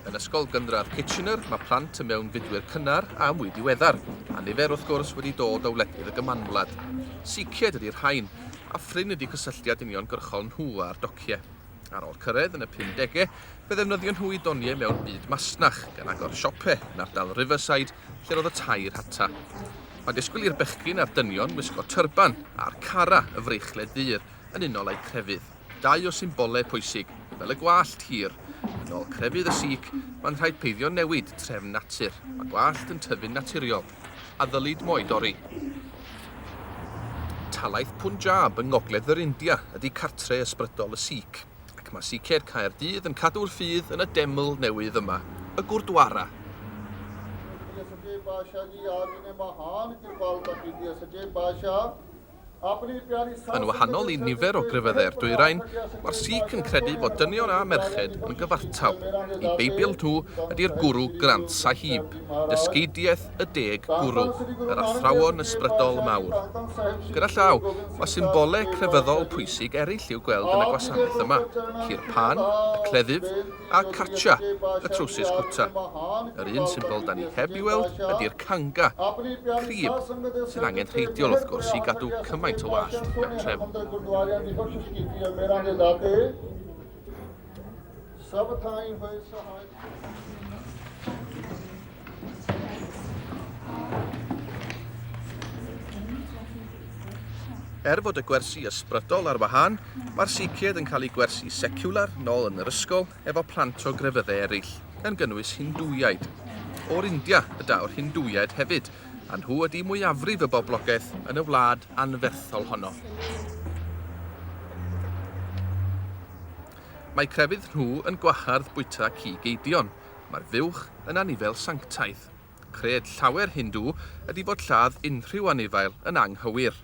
Yn Ysgol Gynradd Kitchener, mae plant y mewnfudwyr cynnar a mwy diweddar, a nifer wrth gwrs wedi dod o wledydd y Gymanwlad. Sicied ydy'r rhain, a phrin ydy cysylltiad uniongyrchol nhw â'r docie. Ar ôl cyrraedd yn y 50au, fe ddefnyddio nhw i doniau mewn byd masnach, gan agor siope yn ardal Riverside lle roedd y tair hata. Mae disgwyl i'r bechgyn a'r dynion wisgo tyrban a'r cara y freichled ddur yn unol â'u crefydd. Dau o symbolau pwysig, fel y gwallt hir, yn ôl crefydd y Sikh, mae'n rhaid peidio newid trefn natur. Mae gwallt yn tyfu'n naturiol, a ddylid mo'u dorri. Talaith Punjab yng ngogledd yr India ydy cartre ysbrydol y Sikh, ac mae Sikhedd Caerdydd yn cadw'r ffydd yn y deml newydd yma, y Gurdwara. Yn wahanol i nifer o grefyddau'r dwyrain, mae'r Sikh yn credu fod dynion a merched yn gyfartal. Y Beibl nhw ydi'r Guru Granth Sahib, Dysgeidiaeth y Deg Gwrw, yr athrawon ysbrydol mawr. Gyda llaw, mae symbolau crefyddol pwysig eraill i'w gweld yn y gwasanaeth yma, Kirpan, y cleddyf, a Kacha, y trowsus cwta. Yr un symbol 'da ni heb 'i weld ydi'r Kanga, crib, sy'n angenrheidiol wrth gwrs i gadw cymaint o wallt bentref. Er fod y gwersi ysbrydol ar wahân, mae'r Siiciaid yn cael eu gwersi seciwlar nôl yn yr ysgol efo plant o grefyddau eraill, gan gynnwys Hindŵiaid. O'r India y daw'r Hindŵiaid hefyd, a nhw ydi mwyafrif y boblogaeth yn y wlad anferthol honno. Mae crefydd nhw yn gwahardd bwyta cig eidion, Mae'r fuwch yn anifail sanctaidd. Cred llawer Hindŵ ydi fod lladd unrhyw anifail yn anghywir.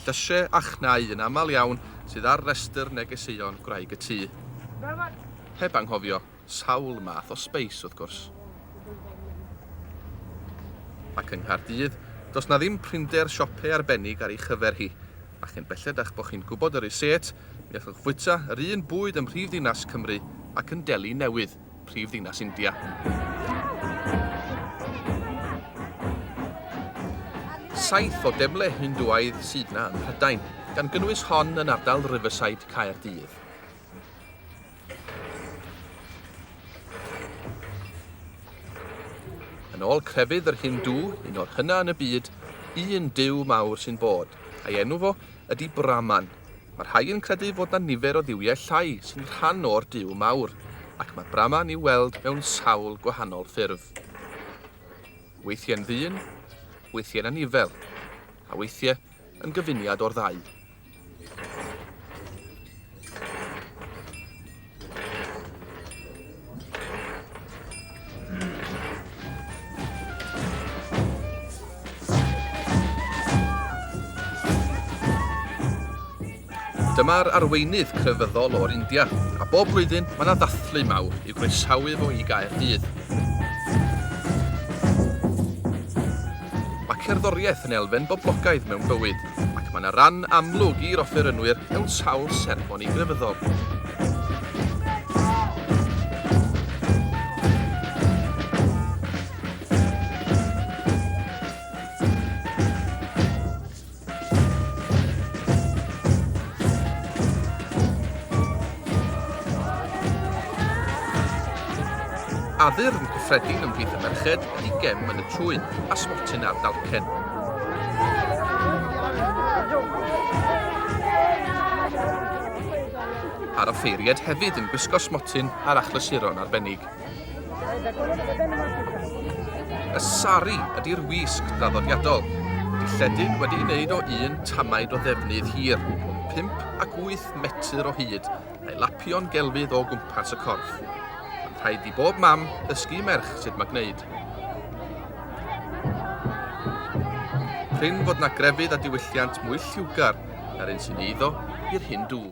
Llysiau a chnau yn aml iawn sydd ar restr negeseuon gwraig y tŷ. Heb anghofio sawl math o sbeis, wrth gwrs. Ac yng Nghaerdydd, does 'na ddim prinder siope arbennig ar ei chyfer hi. A chyn belled a'ch bod chi'n gwybod y reset, mi allwch fwyta yr un bwyd ym mhrifddinas Cymru ac yn Delhi Newydd. prif ddinas India. Saith o demle Hindwaidd sydd na ym Mhrydain, gan gynnwys hon yn ardal Riverside Caerdydd. Yn ôl crefydd yr Hindw, un o'r hynna yn y byd, un dyw mawr sy'n bod, a'i enw fo ydy Brahman. Mae rhai yn credu fod 'na nifer o dduwiau llai sy'n rhan o'r Duw mawr, ac mae Brahman i'w weld mewn sawl gwahanol ffurf. Weithiau'n ddyn, weithiau'n anifel, a weithiau yn gyfuniad o'r ddau. Dyma'r arweinydd crefyddol o'r India, a bob blwyddyn mae yna ddathlu mawr i'w groesawu fo i gael hyd. Mae cerddoriaeth yn elfen boblogaidd mewn bywyd, ac mae yna ran amlwg i'r offerynwyr mewn sawl seremoni grefyddol. Addurn cyffredin ymhlith y merched i gem yn y trwyn a smotin ar dalcen. A'r offeiried hefyd yn gwisgo smotin ar achlysuron arbennig. Y sari ydy'r wisg draddodiadol, dilledyn wedi'i wneud o un tamaid o ddefnydd hir, 5 ac 8 metr o hyd, a'i lapio'n gelfydd o gwmpas y corff. Mae'n rhaid i bob mam ddysgu i merch sut mae gwneud. Prin fod na grefydd a diwylliant mwy lliwgar na'r un sy'n eiddo i'r hyn dŵ.